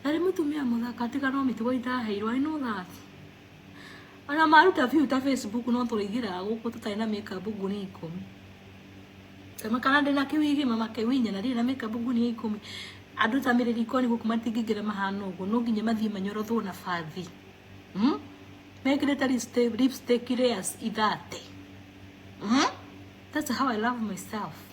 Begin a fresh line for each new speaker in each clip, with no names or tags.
Arĩ mũtumia mũthaka tiga no mĩtugo itaheirwo I know that. Ona maruta view ta Facebook no tũrĩigĩraga gũkũ tũtarĩ na makeup nguni ikũmi. Kama kana ndĩ na kĩwigi mama kĩwinya na ndirĩ na makeup nguni ikũmi. Andũ ta mĩrĩ rikoni gũkũ matingĩingĩra mahana ũguo no nginya mathiĩ manyorotwo na bathi. Hmm? Mekĩrĩte lipstick, lipstick layers ithate. Hmm? That's how I love myself.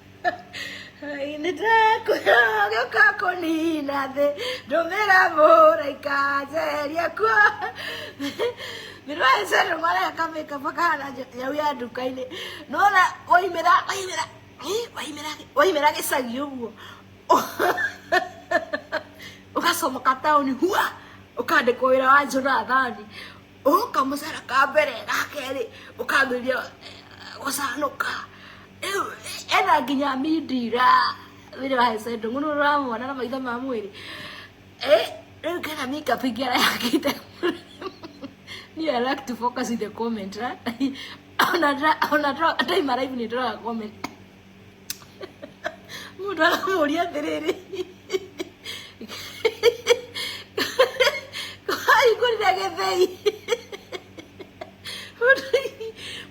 nĩ ndakũra gĩoka kũnina thĩ ndũmĩra mũraika njeria kuo mĩrũ ya cero mareka kamĩka makahana nyau ya nduka-inĩ nona waimĩra waimĩra ih, waimĩra waimĩra gĩcagi ũguo ũgacomoka taũni hua ũkandĩkwo wĩra wa Jonathani ũka mũcara ka mbere ga kerĩ ũkambĩrĩria gũcanũka rĩu ena nginya mindira wĩrĩ wa hecendo mũno ũramwona na maitho ma mwĩrĩ Eh, rĩu kena makeup ingĩ arayakĩte niĩ I like to focus in the comment right? ona ndra- ona ndra- time arrive nĩ ndoraga comment mundu aramuria atiriri ahingurire githei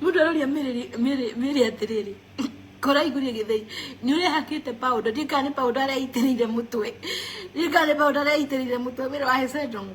mundu aroria miri atiriri kuraiguria githei ni urehakite powder ndi kana ni powder araitiriire mutwe ndi kana ni powder araitiriire mutwe wira wa hesedongo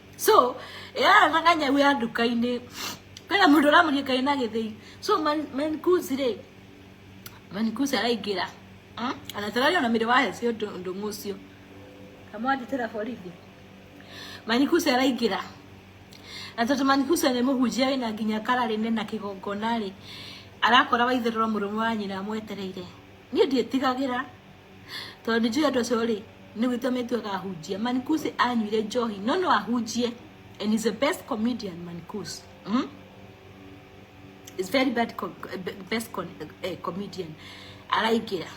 so yaranaga nyau ya nduka-inĩ kwĩna mũndũ ũramũria kaĩ na gĩthĩi so man- mankuzi rĩ mankuzi araingĩra Mm? anatarari ona mĩrĩ wahece ũndũ ũndũ mũcio kamwandĩtĩra borithi manikusi araingĩra na tondũ manikusi nĩ mũhunjia wĩna nginya kara rĩne na kĩgongona rĩ arakora waitherũra mũrũme wa nyina amwetereire niĩ ndiĩtigagĩra tondũ nĩ njũĩ andũ acio rĩ nĩ gwĩtua metuaga ahunjia manikusi anyuire njohi no no ahunjie and is the best comedian manikusi mm? is very bad co best con eh, comedian araingĩra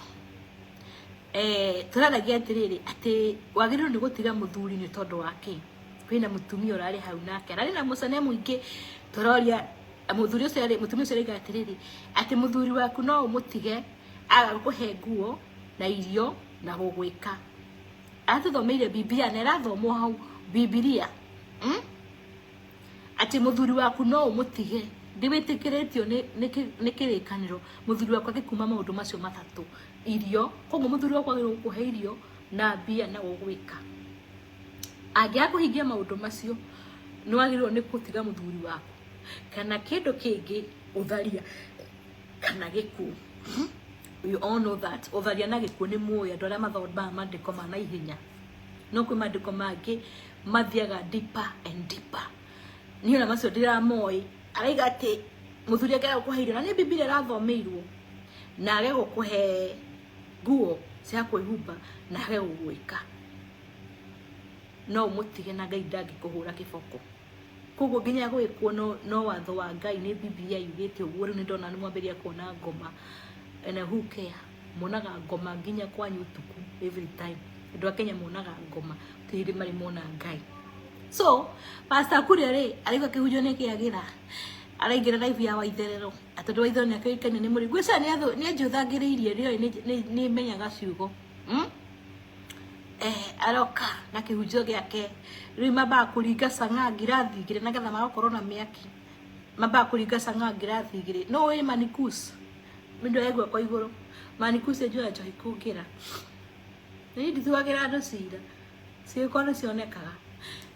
eh, tũraragia atĩrĩrĩ atĩ wagĩrĩirwo nĩ gũtiga mũthuri nĩ tondũ wake kwĩna mũtumia ũrarĩ hau nake ararĩ na mũcane mũingĩ tũroria mũthuri ũcio arĩ- mũtumia ũcio arĩga atĩrĩrĩ atĩ mũthuri waku no ũmũtige agakũhe nguo na irio na gũgwĩka aratũthomeire bibilia na ĩrathomwo hau bibilia mm? atĩ mũthuri waku no ũmũtige ndiwĩtĩkĩrĩtio nĩ- nĩ kĩ- nĩ kĩrĩkanĩro mũthuri waku agĩkuma maũndũ macio matatũ irio koguo mũthuri waku agĩrĩirwo gũkũhe irio na mbia na gũgwĩka angĩaga kũhingia maũndũ macio nĩ wagĩrĩirwo nĩ gũtiga mũthuri waku kana kĩndũ kĩngĩ ũtharia kana gĩkuũ you all know that ũtharia na gĩkuũ nĩ mũĩ andũ arĩa mathombaga maandĩko ma naihenya no kwĩ maandĩko mangĩ mathiaga deeper and deeper niĩ ona macio ndiramoĩ araiga atĩ mũthuri angĩaga gũkũhe irio na nĩ bibilia ĩrathomeirwo na age gũkũhe nguo cia kwĩhumba na age gũgwĩka no ũmũtige na ngai ndangĩkũhũra kĩboko Koguo nginya gwĩkwo no watho wa Ngai nĩ Bibilia yugĩte ũguo, rĩu nĩ ndona nĩ mwambĩrĩria kuona ngoma and who care? Monaga ngoma nginya kwanyu ũtukũ every time. Andũ a Kenya monaga ngoma gũtirĩ hĩndĩ marĩ mona Ngai. So, Pastor Kuria rĩ, araigua akĩhunjio nĩ Kĩagĩra, araingĩra live ya Waitherero, na tondũ Waitherero nĩ akĩũĩkaine nĩ mũrĩu, ngwĩciria nĩ anjũthagĩrĩirie, nĩ oĩ nĩ menyaga ciugo. eh, aroka na kihunjio giake riu mambaga kuringa canga ngirathi igiri nagetha magakorwo na miaki mambaga kuringa canga ngirathi igiri no wi manikus mindu aigua kwa iguru manikus enjoya njohi kungira ni ndituagira andu cira ciiko ni cionekaga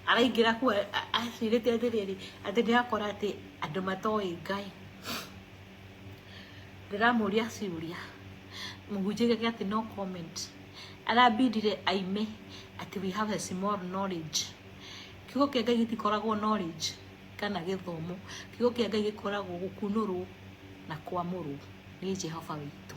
araingira ku acirite atiriri ati ni akora ati andu matoi ngai ndĩramũria ciũria mũhunjia augage atĩ no comment arabindire aime atĩ we have a small knowledge kiugo kĩa Ngai gĩtikoragwo knowledge kana gĩthomo kiugo kĩa Ngai gĩkoragwo gũkunũrwo na kwamũrwo nĩ Jehova witũ.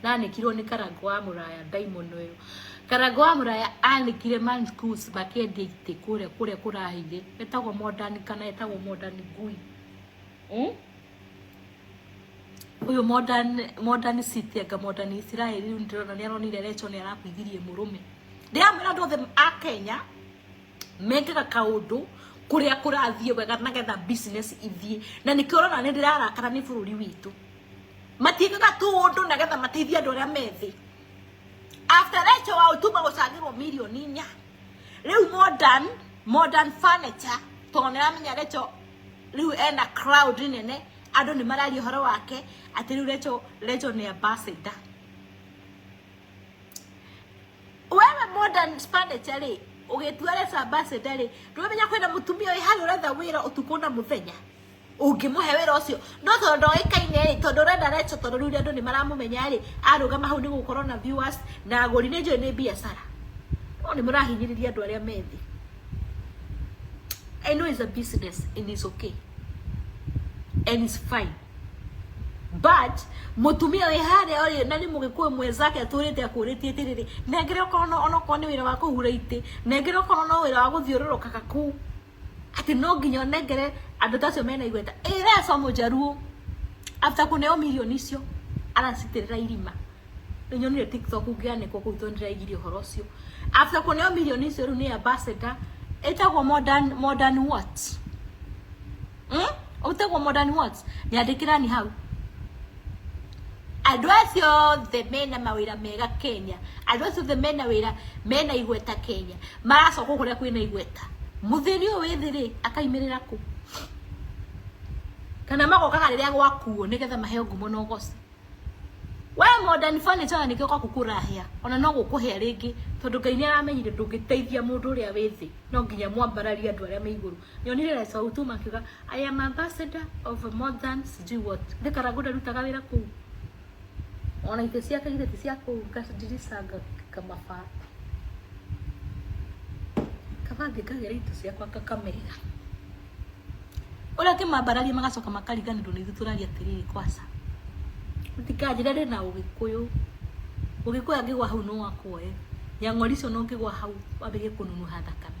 Ndanĩkirwo nĩ karangũ wa mũraya ndaimono ĩyo. Karangũ wa mũraya anĩkire man schools makĩendia itĩ kũrĩa kũrĩa kũrahĩire. Etagwo modern kana etagwo modern ngui. Hmm? Ũyũ modern modern city anga modern Israel rĩu ndĩrona nĩ aronire Recho nĩ arakuithirie mũrũme. Ndĩramwĩra andũ othe a Kenya mekaga kaũndũ kũrĩa kũrathiĩ wega nagetha business ithiĩ na nĩkĩo ũrona nĩ ndĩrarakara nĩ bũrũri witũ. matiĩkaga tu ũndũ na getha mateithie andũ arĩa me thĩ after Rachel wa ũtuma gũcangĩrwo mirioni inya rĩu modern modern furniture tondũ nĩ aramenya Rachel rĩu ena crowd nene andũ nĩ mararia ũhoro wake atĩ rĩu Rachel Rachel nĩ ambassador wewe modern furniture rĩ ũgĩtua Rachel ambassador rĩ ndũmenya kwĩna mũtumia wĩ harĩa ũretha wĩra ũtukũ na mũthenya ũngĩmũhe wĩra ũcio no tondũ ndoĩkaine rĩ tondũ ũrenda Recho tondũ rĩu andũ nĩ maramũmenya rĩ arũgama hau nĩ gũkorwo na viewers na agũri nĩ njũĩ nĩ biacara no nĩ mũrahinyĩrĩria andũ arĩa me thĩ I know it's a business and it's okay and it's fine but mutumia wi haria uri na ni mugikuyu mwenzake aturite akuritie tiriri nengere okorwo no onokorwo ni wira wa kuhura ite nengere okorwo no wira wa guthiururukaga kuu atĩ no nginya ũnengere andũ ta acio mena igweta ĩra aco mũjaruo after kũneo mirioni icio aracitĩrĩra irima nĩ nyonire tiktok ngĩanĩkwo kũu tondũ ndĩraigire ũhoro ũcio after kũneo mirioni icio rĩu nĩ ambassador ĩtagwo modern modern what mm? ũtagwo modern what nyandĩkĩrani hau Andũ acio othe mena mawĩra mega Kenya, andũ acio othe mena wĩra, mena igweta Kenya, maracoka kũu kũrĩa kwĩna igweta, mũthĩni ũyũ wĩ thĩ-rĩ, akaimĩrĩra kũ? Kana magokaga rĩrĩa gwakuo nĩgetha maheo ngumo na ũgooci? Wee Modern Furniture ona nĩkĩo gwaku kũrahĩa, ona no gũkũhĩa rĩngĩ, tondũ Ngai nĩaramenyire ndũngĩteithia mũndũ ũrĩa wĩ thĩ, no nginya mwambararie andũ arĩa me igũrũ. Nyonire Lesau tu makiuga I am ambassador of more than sijui what. Githĩ Karangũ ndarutaga wĩra kũu? Ona itĩ ciake githĩ ti cia kũu ngadirica ngamaba. Kabange ngagĩra itũ ciakwa ngakamĩiga. Ũrĩa ngĩmambararia magacoka makariganĩrwo nĩ ithuĩ tũraria atĩrĩrĩ kwaca. Mũtikanjĩre ndĩ na ũgĩkũyũ. Ũgĩkũyũ angĩgwa hau no akuoe. Nyang'ori icio no ngĩgwa hau wambĩrĩrie kũnunuha thakame.